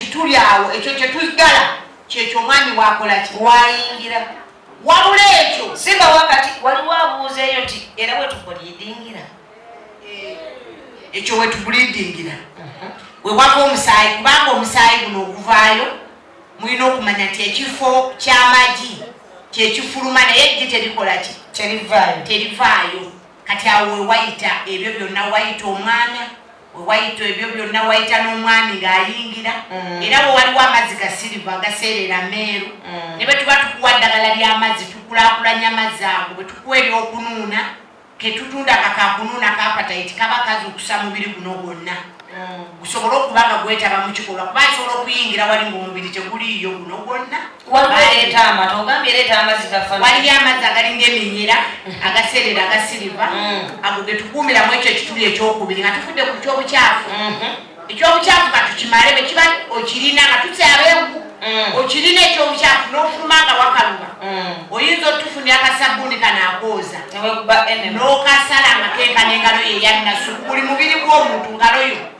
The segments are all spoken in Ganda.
tuli awo ekyo kyetugala kyekyo omwami wakolaki wayingira wabula ekyo simba wakati waliwo abuuza eyo nti era wetubulidingira eh, ekyo wetubulidingira uh-huh. wewava omusaayi kubanga omusaayi guno oguvaayo mulina okumanya nti ekifo kyamagi kyekifuluma naye ejji terikolaki terivaayo kati awo wewayita ebyo byonna wayita omwana wewayita ebyo byonna wayita n'omwami ng'ayingira mm. era bwe waliwo amazzi ga siriva agaseerera meeru mm. ne bwe tuba tukuwa ddagala ly'amazzi tukulakulanya amazzi ago bwe tukuwa ery'okunuuna ketutunda kakakunuuna kapatayiti kaba kazukusa mubiri guno gwonna mm. gusobole okuba nga gwetaba mu kikolwa kuba nsobola okuyingira wali ng'omubiri teguliiyo guno gwonna Aleeta amata ogambye leeta amazzi gafa. Waliyo amazzi agali ng'eminyira mm. agaseerera agasiriva mm. ago ge tukuumira mu ekyo ekituli ekyokubiri nga tufudde ku ky'obukyafu mm-hmm. eky'obukyafu ka tukimale bwe kiba okirina nga tukyaba enku mm. okirina eky'obukyafu n'ofuluma nga wakaluba oyinza otufunira akasabbuuni kanaakooza n'okasala nga kenkana engalo ye yannasukuli mubiri gw'omuntu ngaloyo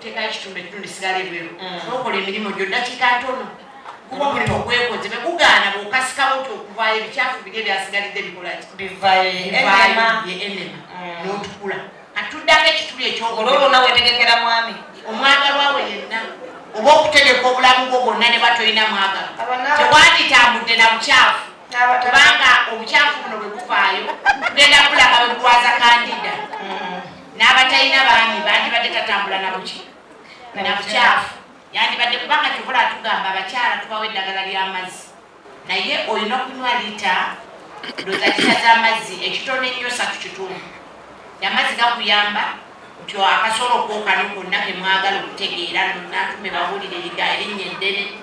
teekayo ekitundu ekimu nesigala ebweru mm. nokola emirimu gyo dakiika ntono kuba omulimu gwekoze begugaana bwokasikawo ti okuvaayo ebikyafu biri ebyasigalidde bikolaki bivaenema mm. notukula katuddako ekituli ekyoololo nawe tegekera mwami omwagalwawe yenna oba okutegeka obulamu bwo bwonna ne batolina mwagalo tewanditambudde na bukyafu kubanga obukyafu buno bwekuvaayo tugenda kulaba bwegwaza kandida mm. n'abatalina baami bandibadde tatambula na buki na bukyafu yandibadde kubanga kyokola atugamba abakyala tubawo eddagala ly'amazzi naye olina okunywa lita ndoza lita z'amazzi ekitono ennyo satu kitundu amazzi gakuyamba nti akasolo kokano konna kemwagala okutegeera natume bawulire liga erinnya eddene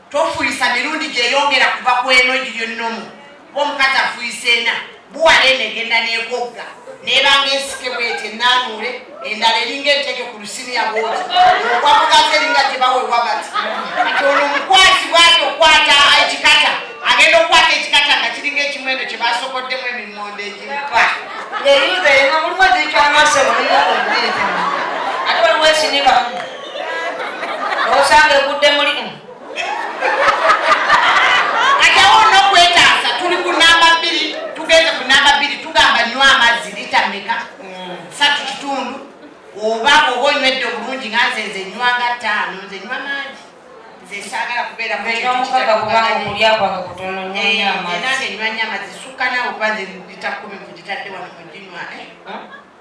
Tofuyisa mirundi gyeyongera kuva ku eno egiri ennomu kuba omukazi afuyisa ena buwala eno egenda negogga nebanga ensike bwete enaanuule endala eringa enteke ku lusiniya bwoti ogwa mugazi eringa gyebawewa bati kati ono omukwasi bwati okwata ekikata agenda okukwata ekikata nga kiringa ekimu eno kyebasokoddemu emimondo egimupa eyuza eno mulimu ezikyamaso ate waliwo esinibamu osanga egudde muli mm. kati awo olina okwetaasa tuli ku namba bbiri tugenze ku namba bbiri tugamba nywa amazzi lita meka mm. satu kitundu oba oba onywedde obulungi nga nze nze nywa nga ttaano nze nywa mangi nze saagala kubeera muomukaga kubanga okulya kwange kutono nyeyo amazzi nange nywa nyo amazzi sukka naawe kuba nze lita kumi kugitadde wano muginywa eh?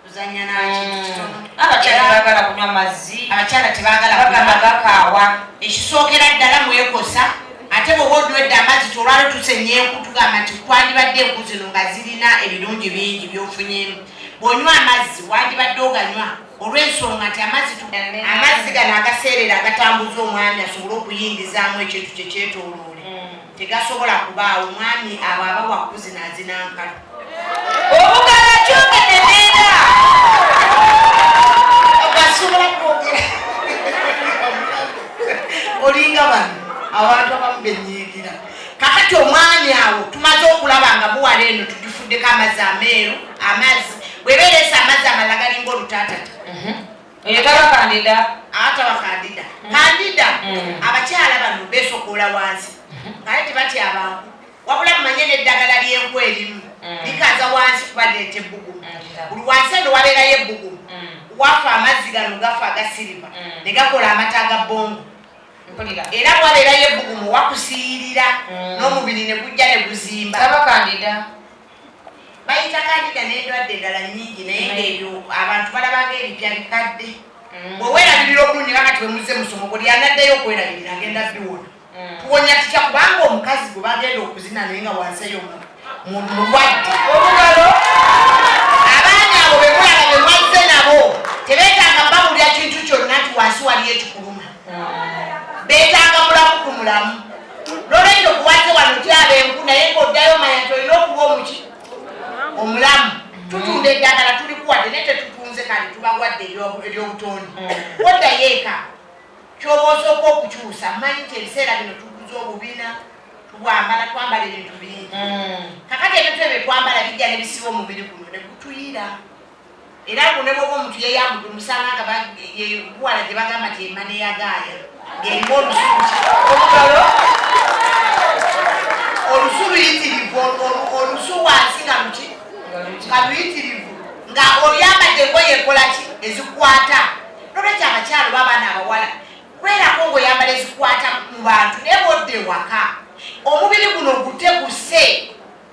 kuzanya nakintu kitono abakyala bagala kunywa mazzi abakyala tebagala bagamba gakaawa ekisookera ddala mwekosa ate bwoba odwedde amazzi tolwalo tusenyenku tugamba nti twandibadde enku zino nga zirina ebirungi bingi byofunyemu bwonywa amazzi wandibadde oganywa olwensonga nti amazzi amazzi gano agaseerera agatambuza omwami asobole okuyingizaamu ekintu kyekyetoloola tegasobola kubaawo mwami abo abawa kuzina azinankala obugala kyogede nenda ogasobola kwogera olinga bano abantu abamu benyigira kakati omwami awo tumaze okulaba nga buwala eno tugifuddeko amazzi ameeru amazzi bwebereesa amazzi amalaga linga olutaatata mhm. Oyo taba kandida. Ataba kandida. Kandida. Abakyala bano besokoola wansi. Naye tebatya abantu. Wabula mumanye n'eddagala ly'enku erimu. Likaza wansi kuba leeta ebbugumu. Buli wansi eno wabeerayo ebbugumu. Wafa amazzi gano gafa aga siriva. Ne gakola amata aga bongo. Era wabeerayo ebbugumu wakusiiyirira n'omubiri ne gujja ne guzimba. Taba kandida. Bayita kandida n'endwadde endala nnyingi naye ng'ebyo abantu balaba ng'ebipya bikadde. Mm. Bwe weerabirira obulungi nga kati bwe muzze musomo buli anaddeyo okwerabirira agenda biwona. Mm. Tuwonya tutya kubanga omukazi gwe bagenda okuzina naye nga wansi eyo muntu mulwadde. Olugalo abaana abo be mulaba be mwazze nabo tebeetaaga babulira kintu kyonna nti wansi waliyo ekikuluma. Mm. Beetaaga mulamu ku mulamu. Nolwekyo kuwaze wano tyaba enku naye ngaoddayo manya nti olina okuba omuki omulamu tutunda eddagala tulikuwadde naye tetutunze kale tubawadde eryobutondi mm. oddayo eka kyoba osooka okukyusa manyi nti ebiseera bino tuguza obubina tubwambala twambala ebintu bingi mm. kakati ebintu ebyo twambala bijja nebisiba omubiri guno negutuyira Era mbu ne bwoba omuntu yeyambudde omusanga nga yebuwala gye bagamba nti emane yagaaya ng'erimu olusuuti olugalo olusu luyitirivu olusu wansi nga luki nga luyitirivu nga oyambadde engoye ekola ki ezikwata nolwekyo abakyalo babaana abawala kwerako ngaoyambala ezikwata mu bantu naye bodda ewaka omubiri guno guteguse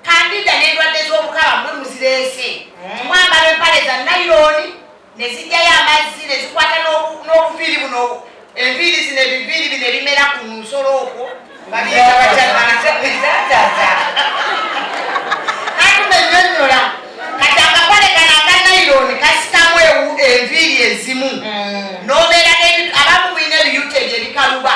Kandida n'endwadde z'obukaba bwe muzira ensi. Mwambala empale za nayironi ne zijjayo amazzi ne zikwata n'obuviiri buno enviiri zino ebiviiri bino ebimera ku nsolo okwo atumenyonyola kati akakole kano aka nayironi kasitamu enviiri ezimu mm. n'obeera abamu mulina ebiyuta ebyo ebikaluba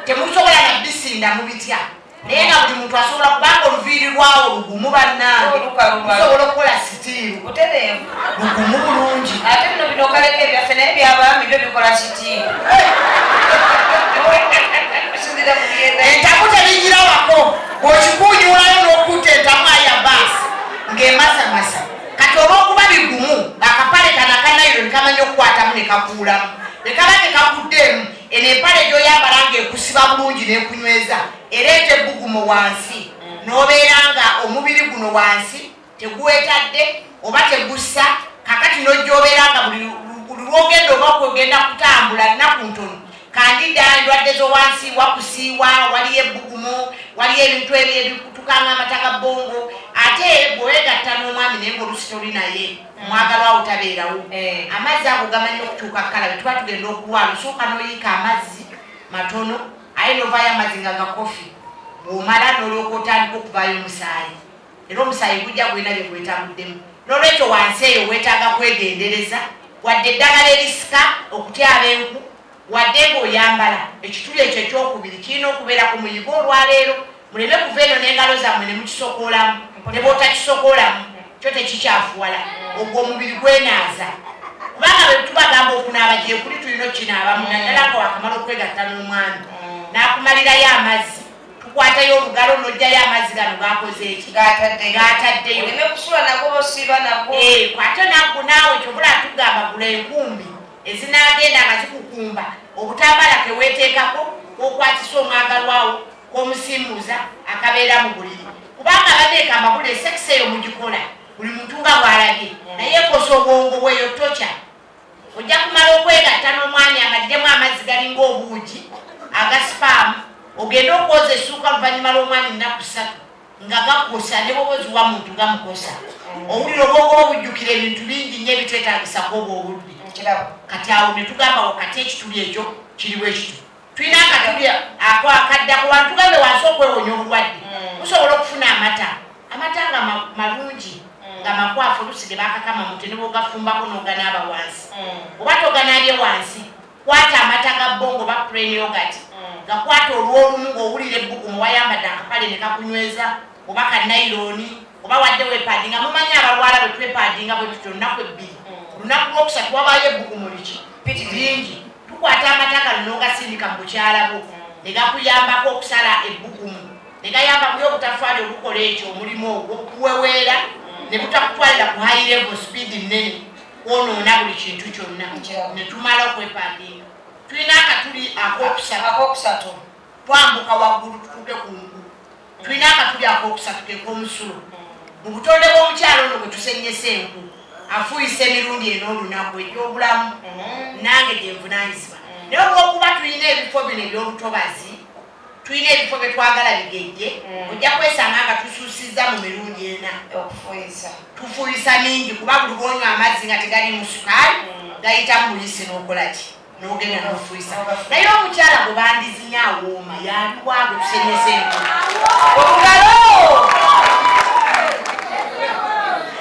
temusobola nabisinda mu bitya naye nga buli muntu asobola kubanga oluviiri lwawo lugumu bannange osobola okukola sitiiru lugumu bulungi ate bino bino okaleko ebyaffe naye byabaami byo bikola sitiiru entaku tebijira wako bwokikuunyulayo n'okutta entamu aya baasi ng'emasamasa kati olw'okuba bigumu akapale kanakanairo ne kamanya okukwatamu ne kakuulamu ne kaba tekakuddeemu Eno empale gy'oyambala ng'ekusiba bulungi n'ekunyweza ereeta ebbugumo wansi n'obeera nga omubiri guno wansi teguwetadde oba tegussa kakati n'ojjoobeera nga buli lwogenda oba kugenda kutambula nnaku ntono kandida endwadde zowansi wakusiiwa waliyo ebbugumu waliyo ebintu ebyo ebikutukanga amata ga bbongo ate bwewegatta n'omwami naye ngaolusitoli naye mwagalwa wo tabeerawo eh. amazzi ago gamanyi okutuuka kukalabe tuba tugenda okulwala osooka noyiika amazzi matono aye novayo amazzi nga gakofi bwomala nolooka otandika okuvayo omusaayi era omusaayi gujja gwena bye gwetabuddemu nolwekyo wansi eyo wetaaga kwegendereza wadde eddagala erisika okutyaba enku Wadde ng'oyambala, ekituli ekyo eky'okubiri kirina okubeera ku muyigo olwa leero. Muleme kuva eno n'engalo zammwe ne mukisokoolamu. Ne bw'otakisokoolamu, kyo tekikyafuwala. Ogwo omubiri gwenaaza. Kubanga bwe tubagamba okunaaba gyekuli, tulina okukinaabamu, naddala nga wakamala okwegatta n'omwami n'akumalirayo amazzi. Tukwatayo olugalo n'oggyayo amazzi gano g'akoze eki? G'ataddeyo. Oleme kusula nago oba osiiba nago. Eeh, kwata nagwo naawe, ky'ova olaba tugamba gula enkumbi. ezinaagenda nga zikukumba obutambaala ke weeteekako k'okwatisa omwagalwawo k'omusimbuuza akabeera mu buliri kubanga abadde ekambabula esekisa eyo mugikola buli muntu nga bw'alabye naye ekosa obwongo bweyo tokya ojja kumala okwegatta n'omwanya nga ddemu amazzi galinga obuugi agasipaamu ogende okwoza essuuka oluvannyuma lw'omwanya ennaku ssatu nga gakosa ne bwoba oziwa muntu gamukosa owulira obwongo obujjukira ebintu bingi nnyo ebitwetagisako oba obudde kati awo ne tugamba wakati ekituli ekyo kiri bwe kitu tulina akatuli ako akadda ku bantu gambe wansi okwewonya obulwadde mm. musobola okufuna amata amata nga malungi mm. nga makwafu olusi ge bakakama mute ne bwogafumbako n'oganaaba wansi mm. oba toganaabye wansi Kwata amata ga bongo oba plain yogurt gakwate olw'olumu ng'owulira ebbugumu wayambadde akapale ne kakunyweza oba ka nayilooni oba wadde weepaadinga mumanyi abalwala bwe twepaadinga bwe tutyo olunaku ebbiri ku lunaku lw'okusatu wabaayo ebbugumu liki piti lingi tukwata amata gano n'ogasindika mu bukyala bwo ne gakuyambako okusala ebbugumu ne gayamba kuyo obutafaali obukola ekyo omulimu ogwo kuweweera ne butakutwalira ku high level speed nnene kwonoona buli kintu kyonna netumala okwepandiika tulina akatuli akokusatu twambuka waggulu tutuuke ku ngulu tulina akatuli akokusatu kekomusulo mu butonde bw'omukyalo ono bwe tusenyesa enku afuuyisa emirundi eno olunaku egyobulamu mm-hmm. nange gyenvunanyizibwa mm. naye olwokuba tulina ebifo bino ebyobutobazi Tulina ebifo bye twagala bigejje, ojja kwesanga nga tusuusizza mu mirundi ena. Okufuuyisa. Tufuuyisa mingi kuba buli lw'onywa amazzi nga tegaliimu sukaali gayita mu buyisi n'okola ki n'ogenda n'ofuuyisa. Naye omukyala gwe bandizinye awooma yaliwa gwe tusenyese enkola. Obugalo!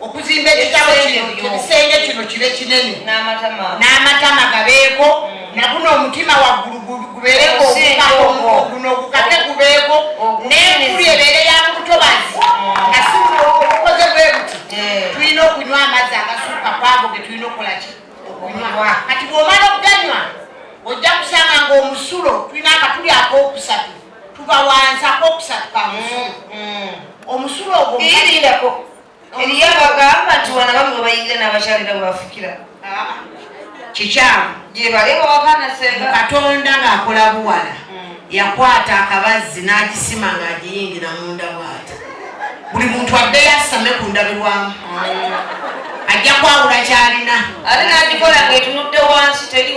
okuzimba ekisenge kino kibe kinene n'amatama gabeeko mm. naguno omutima waggulu gubeereko guno ogukate gubeeko n'enkulu ebeere ya mu butobazi mm. nga si obukoze bwe buti eh. tulina okunywa amazzi agasuuka kwago ge tulina okukola ki okunywa kati bw'omala okuganywa ojja kusanga ng'omusulo tulina akatuli ak'okusatu tubawanza ak'okusatu kamusu mm, omusulo ogwo eriyo abagamba nti wana bamwe webayingira nabakyalira webafukira ah. kikyamu katonda ngaakola buwala hmm. yakwata akabazzi n'agisima ng'agiyingira munda bwata buli muntu adde yasame ku ndabirwamu hmm. ajja kwawula kyalina ate nagikola ngaetunudde wansi teri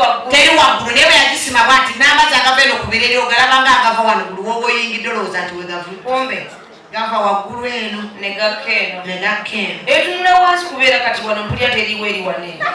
waggulu naye bwe yagisima bwati n'amazzi agava eno ku bireri ogalaba nga agava wano buli woba oyingidde olowooza nti wegavu gava waggulu eno ne gakka eno ne gakka eno etunula wansi kubeera kati wano mpulira teriwo eri wano eno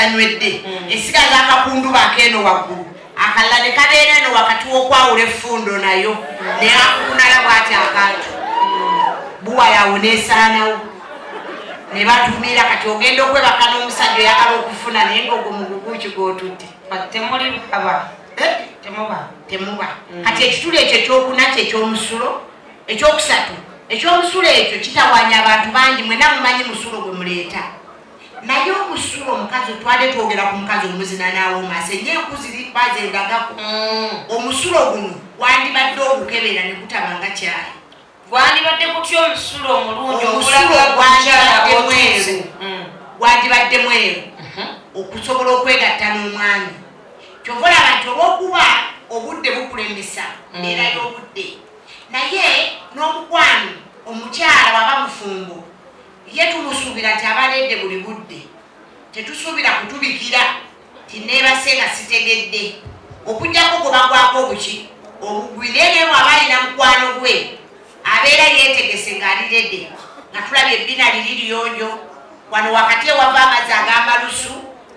tanywedde mm. esigaza akakundu bakeeno waggulu akalla ne kabeera eno wakati w'okwawula effundo nayo naye akukunala bwati akantu buwa yawo nesaanawo ne batumiira kati ogenda okwebaka n'omusajja oyagala okufuna naye ngaogwo muguguki gwotudde temuli baba eh? temuba temuba mm. kati ekituli ekyo ekyokuna kyo ekyomusulo ekyokusatu ekyomusulo ekyo kitawanya abantu bangi mwena mumanyi musulo gwe muleeta Naye okusula omukazi otwade twogera ku mukazi omuzina n'awooma senga enku ziri kuba zendagako. Mm. Omusulo guno gwandibadde ogukebera ne gutaba nga kyayi. Gwandibadde gutya omusulo omulungi ogulaga gwakyala bw'otuuse? Mm. Gwandibadde mweru mhm. okusobola okwegatta n'omwami. Kyova olaba nti olw'okuba obudde bukulembesa mm. mbeera y'obudde naye n'omukwano omukyala waba mufumbo Ye tumusuubira nti aba aleedde buli budde. Tetusuubira kutubikira nti nneebase nga sitegedde, okuggyako gwe bagwako obuki obugwi. Naye naye bw'aba alina mukwano gwe, abeera yeetegese ng'ali rede, nga tulabye ebbina liri liyonjo, wano wakati ewava amazzi ag'amalusu.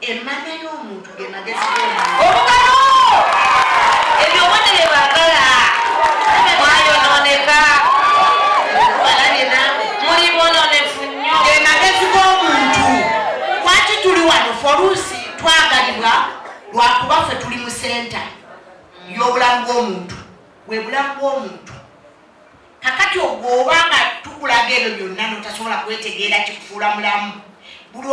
Emmanya y'omuntu ge magezi g'omuntu. Obugalo! Ebyo obudde bye baagala. Mwayonooneka. Balabye naawe. Muli boononefu nnyo. Ge magezi g'omuntu. Lwaki tuli wano? Ffe oluusi twagalibwa lwa kuba ffe tuli mu senta y'obulamu bw'omuntu. Bwe bulamu bw'omuntu. Kakati ogwo oba nga tukulaga ebyo byonna notasobola kwetegeera kikufuula mulamu buli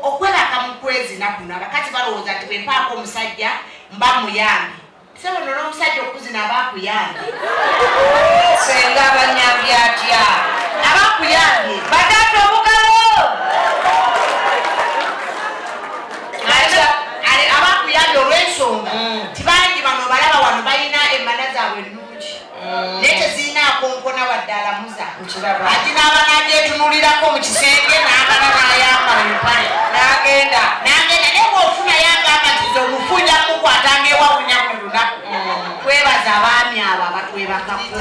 okwebaka mu kwezina kuno abakazi balowooza nti bwempaako omusajja mba muyambi sebo nola omusajja okuzina aba akuyambye senga abanyambi atya aba akuyambye bataata obugalo aba akuyambye olwensonga mm. tibangi bano balaba wano balina emana zaabwe naye tezirina akonkona wadde alamuza ati naaba najetunulirako mu kisenge naagala nayambala empale nagenda nagenda naye bwofuna yagamba nti ze omufunja mukwata ngaewawunya mu lunaku mm. twebaza abaami abo abatwebakako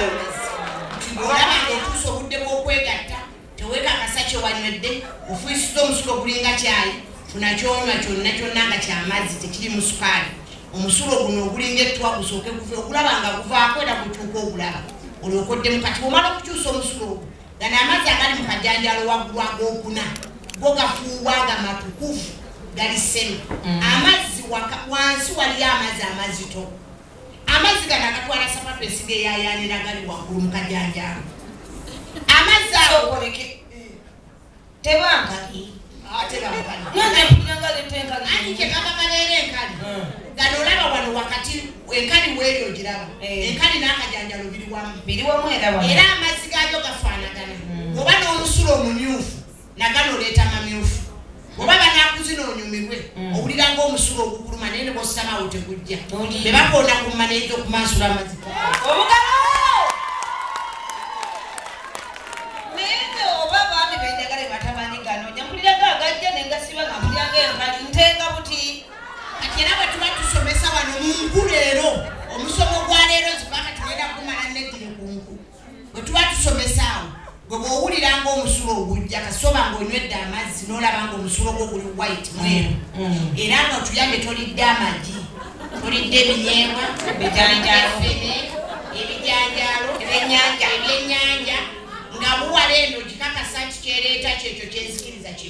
Tewekakasa kye wanywedde, ofuuyisizza omusulo ogulinga caayi, funa ky'onywa kyonna kyonna nga kya mazzi tekirimu sukaali. Omusulo guno ogulinga ettwa gusooke guve okulaba nga guvaako era gutuuka ogulaba olyoka oddemu kati. Bw'omala okukyusa omusulo ogwo, gano amazzi agali mu kajanjaalo waggulu ag'okuna go gafuuwa nga matukuvu gali semi. Amazzi wansi waliyo amazzi amazito. Amazzi gano agatwala sapatu esigeyayaanira gali waggulu mu kajanjaamu amazzi ago tebankaki gano olaba wano wakati enkali weeyo ogiraba eh. enkali n'akajanjalo biri wamu era amazzi gaayo gafaanagana hmm. oba n'omusulo omumyufu nagana oleeta mamyufu oba banakuzina onyumirwe mm. owulira nga omusulo ogukuluma naye nebositamawo tegujja bebakonda ku maneja okumansula amaziko era bwe tuba tusomesa wano mu nku leero omusomo gwa leero zibanga tugenda kumala neddire ku nku bwe tuba tusomesaawo gwe bwowulira nga omusulo ogujja kasoba nga onywedde amazzi nolaba nga omusulo gwo guli white mweru mm, mm. era nga otuyambe tolidde amagi tolidde ebinyebwa ebijanjalofene ebijanjalo ebyenyanja ebyenyanja nga buwala eno gikakasa nti kyereeta kyekyo kyenzikiriza kye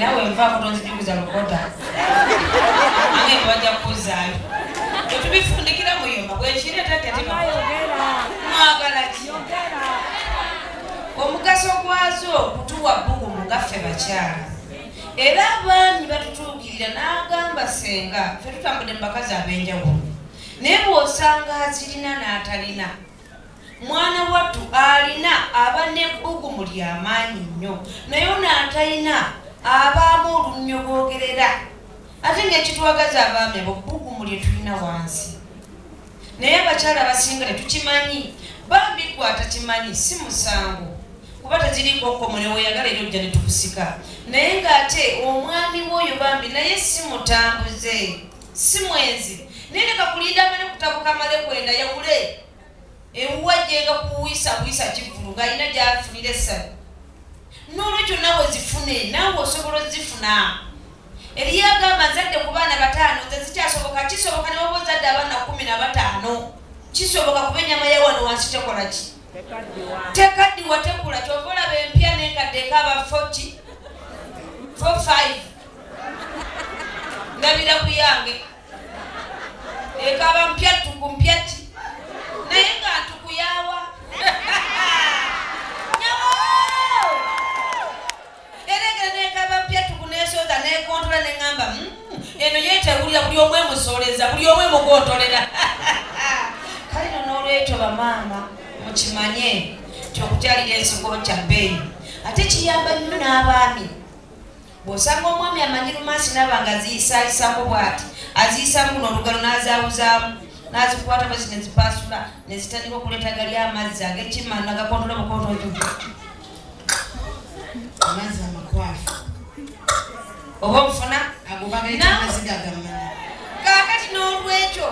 nawe nvaako tonzijuguza lukoda ange tebajja kukuzaayo tetubifundikira muyumba bwekiretatetimawagalaki omugaso gwazo kutuwa bbugu mugaffe bakyala era abaami batutuukirira n'agamba senga fe tutambudde mu bakazi ab'enjawulo naye bw'osanga azirina n'atalina Mwana wattu alina aba n'ebbugumu lya maanyi nnyo, naye ono atalina abaamu olunnyo boogerera. Ate ng'ekitwagaza abaami abo bbugumu lye tulina wansi, naye abakyala abasinga tetukimanyi. Bambi ggwe atakimanyi si musango kuba tekiriiko kkomo, ne weeyagala era ojja ne tukusika. Naye ng'ate omwami w'oyo bambi naye si mutambuze, si mwenzi, naye leka kulinda amale kutabuka amale kwenda yawule. ewuwe ajjenga kuwisa buyisa kivulu ng'alina gy'afunira essanyu n'olwekyo nawe zifune naawe osobola ozifuna eriyo agamba nzadde ku baana bataano nze zikyasoboka kisoboka ne waba ozadde abaana kumi na bataano kisoboka kuba ennyama ya wano wansi tekola ki tekaddiwa tekula kyova olaba empya n'enkadde ekaaba foti fo five ndabira ku yange ekaba mpya ttuku mpya ki naye nga ntuku yawa eregera nekaba mpya ttuku nesooza nekontola neŋamba hmm, eno yetewulira buli omu emusoleza buli omu emugotolera kale no n'olwekyo bamaama mukimanye nti okukyalira ensigo kya bbeeyi ate kiyamba nnyo n'abaami Bw'osanga omwami amanyi lumansi n'aba ng'aziyisaayisako bw'ati, aziyisaamu guno olugero n'azaawuzaamu, n'azikwata bwe ziti ne zipaasula, ne zitandika okuleeta gali amazzi ag'ekimma nagakontola bukontonto, amazzi amakwafu, oba obufuna ago bagayita amaziga gamana. Kaakati n'olwekyo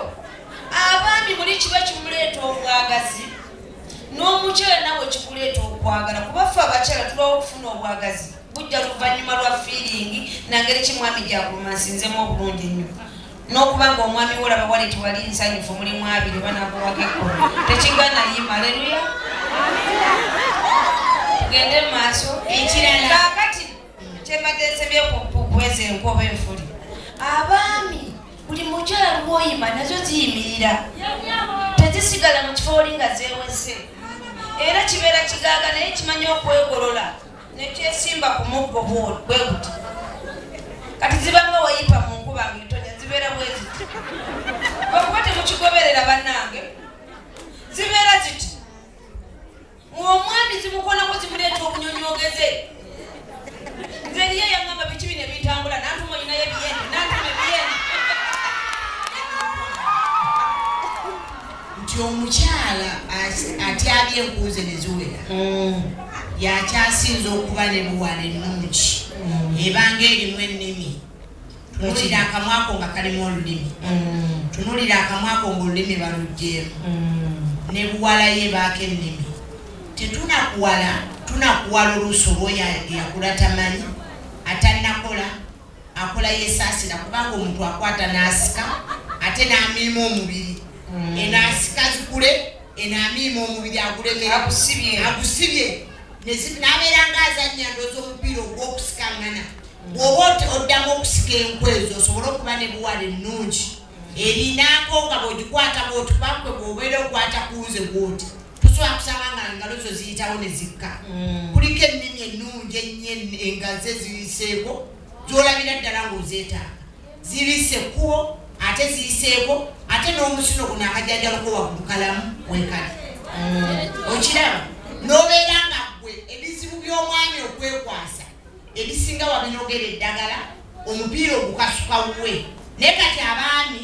abaami muli kiba kimuleeta obwagazi n'omukyala nawe kikuleeta okwagala kuba ffe abakyala tulwawo okufuna obwagazi. Bujja luvannyuma lwa fiiringi na ngeri ki mwami gy'agumansinzemu obulungi ennyo n'okuba ng'omwami wo olaba wali tewali nsanyufu mulimu abiri banakuwako ekkulu tekigana yima aleluya tugende mu maaso kaakati kyembadde nsebye kuweza enkuoba enfuli abaami buli mukyala lwoyima nazo ziyimirira tezisigala mu kifo oli nga zewese era kibeera kigaaga naye kimanya okwegolola nekyesimba ku muggo bweguti kati zibanga wayipa mu nkuba nga etonya zibeera bweziti okuba temukigoberera bannange zibeera ziti ng'omwami zimukonako zimuleeta obunyonyogeze nze eriyo yangamba biki bino ebitambula nantuma olinayo ebiyende nantuma ebiyende nti omukyala atyabye enkuuze ne ziwera mm. yakyasinza okuba ne buwala ennungi mm. ebanga erimu ennimi tunulira akamwako nga kalimu olulimi mm. tunulira akamwako ngaolulimi balugjeemu ne buwala ye baako ennimi tetunakuwala tunakuwala oluusi oba oyo yakula tamanyi atanakola Akola yesaasira kubanga omuntu akwata n'asika ate n'amiima omubiri mm. eno asika zikule eno amiima omubiri agulekera agusibye n'abeera nga azannya ndoozi omupiira ogw'okusikangana bw'oba oddamu okusika enku ezo osobole okuba ne buwala ennungi erinaako nga bw'ogikwata bw'otubankwe bw'obeera okwata kuwuze bw'oti tosobola kusaba nga engalo zo ziyitawo ne zikka mm. kuliko ennimi ennungi ennyo engazi eziyiseeko zolabira ddala ng'ozeetaaga zibise ekkubo ate ziyiseeko ate n'omusino guno akajanjaloko waggulu kalamu wekali mm. okiraba n'obeera nga gwe ebizibu by'omwami okwekwasa ebisinga wabinogera eddagala omupiira ogukasuka wuwe naye kati abaami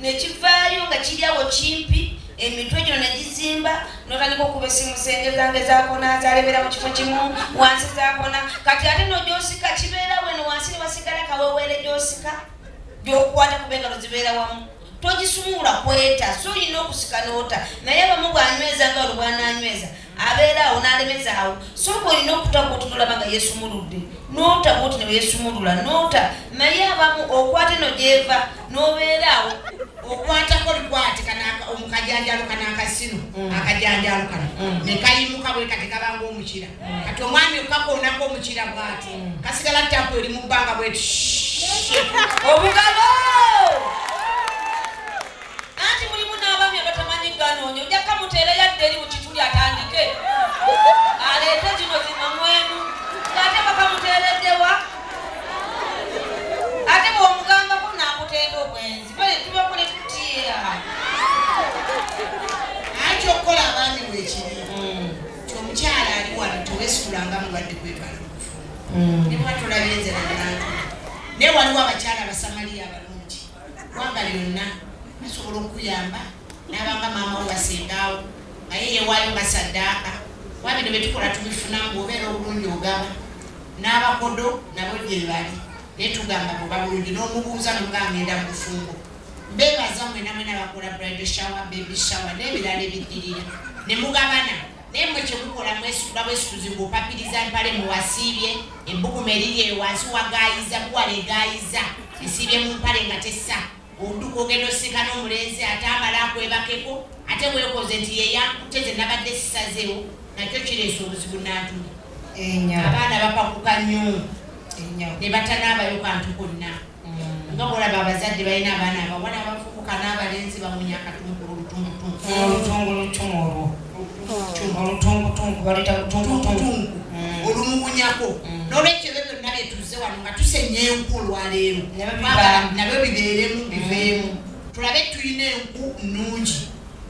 ne kivaayo nga kiri awo kimpi, emitwe gino ne gizimba, n'otandika okuba essimu senge zange zakona zalebera mu kifo kimu wansi zakona, kati ate no gyosika kibeera weno wansi ne wasigala kaweweere gyosika gyokwata kuba engalo zibeera wamu togisumula kweta so olina okusika noota naye abamu bwanyweza nga olubwananyweza abeera awo n'alemeza awo sooka olina okuta gwotunulaba nga yeesumuludde noota bwoti ne weesumulula noota naye abamu okwata eno gyeva n'obeera awo okwatako likwate omukajanjalo kana akasino mm. akajanjalo kana mm. nekayimuka bwe kati kabanga omukira mm. kati omwami okakonako omukira bwati kasigala tapu eri mu bbanga bwetu obugalo Anti mulimu n'abaami abatamanyi ganoonyo nja kamuteera yadde eri mu kituli atandike aleete zino zimamwemu ng'ate bakamuteereddewa ate bw'omugambako n'akutenda obwenzi bale tubakole tutiya anti okukola abaami bwekiri hmm. ti omukyala ali wano tewesitulanga mulwadde kwebala hmm. ne bwatulabye nze nabantu naye waliwo abakyala abasamaliya abalo Gwanga lyonna basobola okukuyamba n'abanga maama wo basengaawo naye yewaayo nga saddaaka kuba bino bye tukola tubifunamu bwobeera obulungi ogaba n'abakodo nabo gyebali naye tugamba bwoba bulungi n'omubuuza nomugaa ngenda mu bufumbo mbebaza mwenamwena bakola bride shower baby shower n'ebirala ebiddirira ne mugabana naye mwe kyemukola mwesuula bwesuuzi ng'opapiriza mpale mu wasiibye ebbugumu eriri eyo wansi wagaayiza buwala egaayiza esiibye mu mpale nga tessa oduka ogenda osika n'omulenzi ate amala akwebakeko ate weekoze nti yeyankutte ze nabadde sisazeewo nakyo kireesa obuzibu nantuma abaana bapakuka nnyo ne batanabayo kantu konna nga mulaba abazadde balina abaana abawala abavubuka n'abalenzi bamunya akatungulu olutungulutumu olwo olutungutungu baleta lutungutungu mm. olumukunyako mm. nolwekyo ebyo byonna byetuze wano nga tusenya enku olwaleero nabyo bibeeremu mm. biveemu tulabe tulina enku nnungi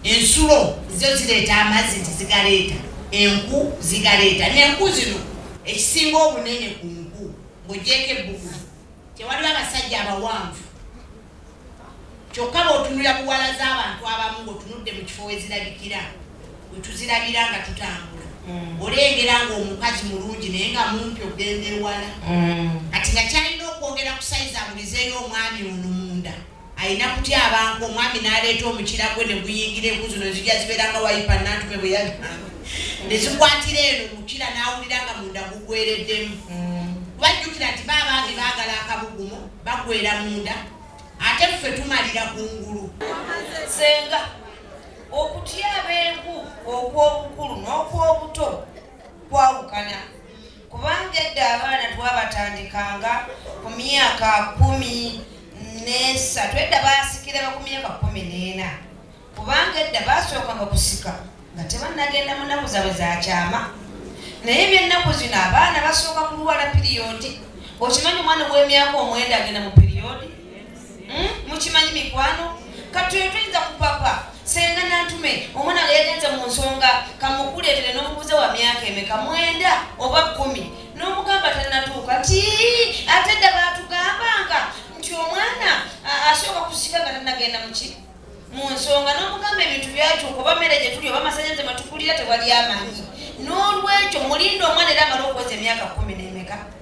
ensulo zo zireeta amazzi nti zigaleeta enku zigaleeta nenku zino ekisinga obunene ku nku ng'ogyeko ebbugu Tewaliwo abasajja abawanvu kyokka bw'otunulira buwala z'abantu abamu ng'otunudde mu kifo we zirabikira we tuzirabira nga tutambula mm. olengera ng'omukazi mulungi naye nga mumpi okugenda ewala mm. kati nga kyalina okwongera ku sayizi amulizeeyo omwami ono munda Alina kutyabanka omwami n'aleeta omukira gwe ne guyingira enku zino zijja zibeera nga wayipa nantume bwe yagamba ne zikwatira eno omukira n'awulira nga munda gugwereddemu bajjukira nti baabange baagala akabugumu bagwera munda ate ffe tumalira ku ngulu senga okutyaba enku okw'obukulu n'okw'obuto kwawukana Kubanga edda abaana twabatandikanga ku myaka kumi n'esatu edda baasikiranga ku myaka kumi n'ena kubanga edda baasookanga kusika nga tebannagenda mu nnaku zaabwe za kyama naye ebyennaku zino abaana basooka kulwala piriyodi okimanyi omwana ow'emyaka omwenda agenda mu piriyodi hmm? mukimanyi mikwano kati oyo tuyinza kupapa senga nantume omwana nga yagenze mu nsonga kamukuleetere n'omubuze wa myaka emeka mwenda oba kumi n'omugamba tanatuuka nti ate dda baatugambanga nti omwana asooka kusika nga tanagenda muki mu nsonga n'omugamba ebintu byakyuka oba mmere gye tuli oba masanyaze matukulira tewali amanyi n'olwekyo mulinda omwana era amala okuweza emyaka kumi n'emeka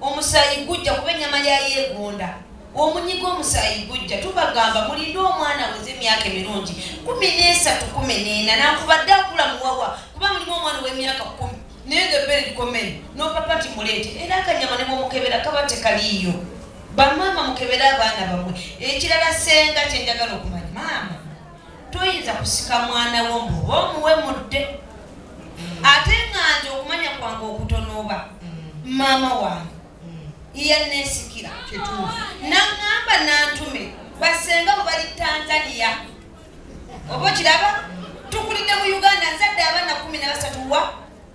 Omusaayi gujja kuba ennyama ya yeegonda omunyiga omusaayi gujja tubagamba mulinde omwana weze emyaka emirungi kumi n'esatu kumi n'ena nankubadde akula muwawa kuba mulimu omwana ow'emyaka kumi naye nga ebbere likomere nopapa ti muleete era akanyama ne bwomukebera kaba tekaliiyo bamaama mukebere abaana bamwe ekirala senga kyenjagala okumanya maama toyinza kusika mwana wo mbu oba omuwe mudde ate nga nze okumanya kwange okutonooba maama wange iyanesikira naŋamba nantume basenga bwe bali tanzania oba okiraba tukulidde mu uganda nzadde abaana kumi nabasatu wa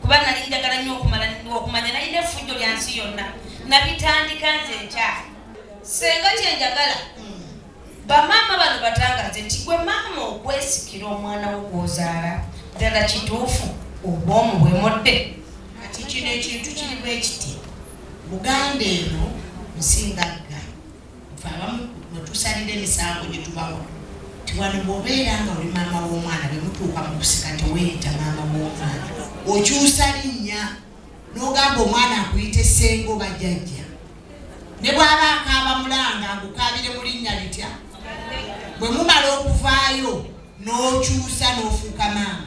kuba nali njagala nnyo okumala okumanya nalina effujjo lya nsi yonna nabitandika nze nkya senga kye njagala bamaama bano batangaze nti gwe maama okwesikira omwana wo gwozaala ddala kituufu obwomu bwemodde kati kino ekintu kirimu ekiti muganda eno nsingagga Ffe abamu mwe tusalira emisango gye tubawa nti wano bw'obeera nga oli maama w'omwana bwe mutuuka mu kusika teweeyita maama w'omwana okyusa linnya n'ogamba omwana akuyita essenga oba jjajja ne bw'aba akaaba mulanga agukaabire mu linnya litya bwe mumala okuvaayo n'okyusa n'ofuuka maama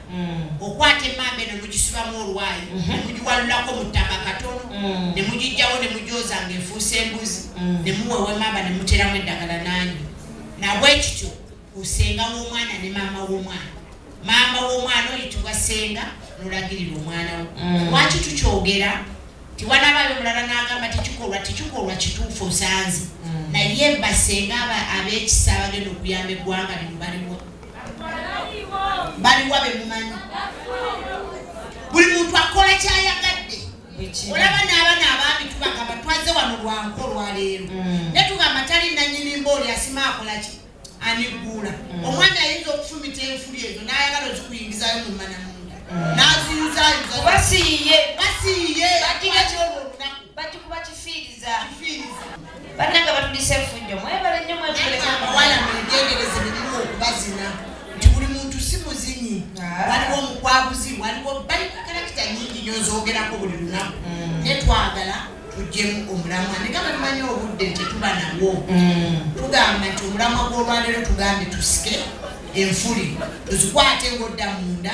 Mm. okwata emamba eno mugisibamu olwayi mm-hmm. nemugiwalulako mu ttaka katono mm. nemugijjawo nemugyoza nga efuusa embuzi mm. nemuwewa emamba nemuteramu eddagala nanyi nabwekityo osenga womwana ne maama womwana maama womwana oyitibwa senga nolagirira omwana wo lwaki tukyogera tiwanabayo mulala nagamba tekikolwa tekikolwa kituufu osanze naye basenga abekisa abagenda okuyamba eggwanga lino baliwo baliwa bemumanyi buli muntu akola kyayagadde olaba n'abana abaami tubagamba twaze wano lwanko olwaleero mm. ne tugamba tali nanyirimba oli asima akolaki aniguula mm. omwana ayinza okufumita enfuli ezo n'ayagala ozikuyingizayo mu mana munda mm. n'aziyuzayuza basiiye basiiye batigakyo olunaku bagikuba kifiiriza kifiiriza Bananga batulisa efujjo mwebale nnyo mwebuleko abawala mwegendereze birimu okubazina nti buli muntu si muzinyi ah. waliwo omukwabuzi waliwo bali karakita nyingi nyo nzogerako buli lunaku mm. naye twagala tujjemu omulamwa negamba tumanyi obudde nti tuba nawo mm. tugamba nti omulamwa gw'olwaleero tugambe tusike enfuli tuzikwate ng'odda munda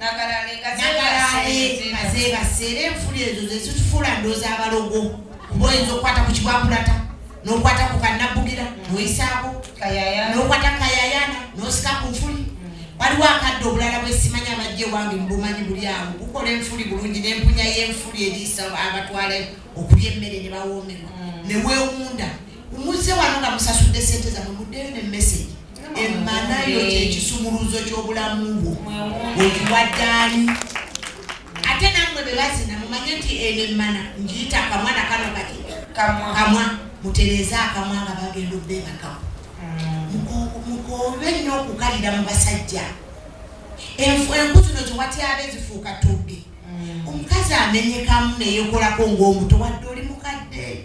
nakalale kazebase era enfula ezo zezitufuula ndooza abalogo kuba oyinza okukwata ku kibwakulata nokwata ku kanabbugira noyisaako nokwata kayayana nosika ku nfuli waliwo akadde obulala bwesimanya abajja ewange mubumanyi buli awo gukola enfuli bulungi nempunya yenfuli eriisa abatwala okulya emmere ne bawoomerwa mm. newewunda muze wano nga musasudde sente zamwe muddeyo ne message emmanayo kyekisumuluzo ky'obulamu bwo wekiwaddaani ate namwe bebazina mumanye nti eno emmana ngiyita kamwana kano kati kamwa mutereeze akamwa nga bagenda obbebakamu mukoobe nnyo okukalira mu basajja enku zino ziwatyabe zifuuka tubbi mm. omukazi amenyekamu neyekolako ngaomuto wadde oli mukadde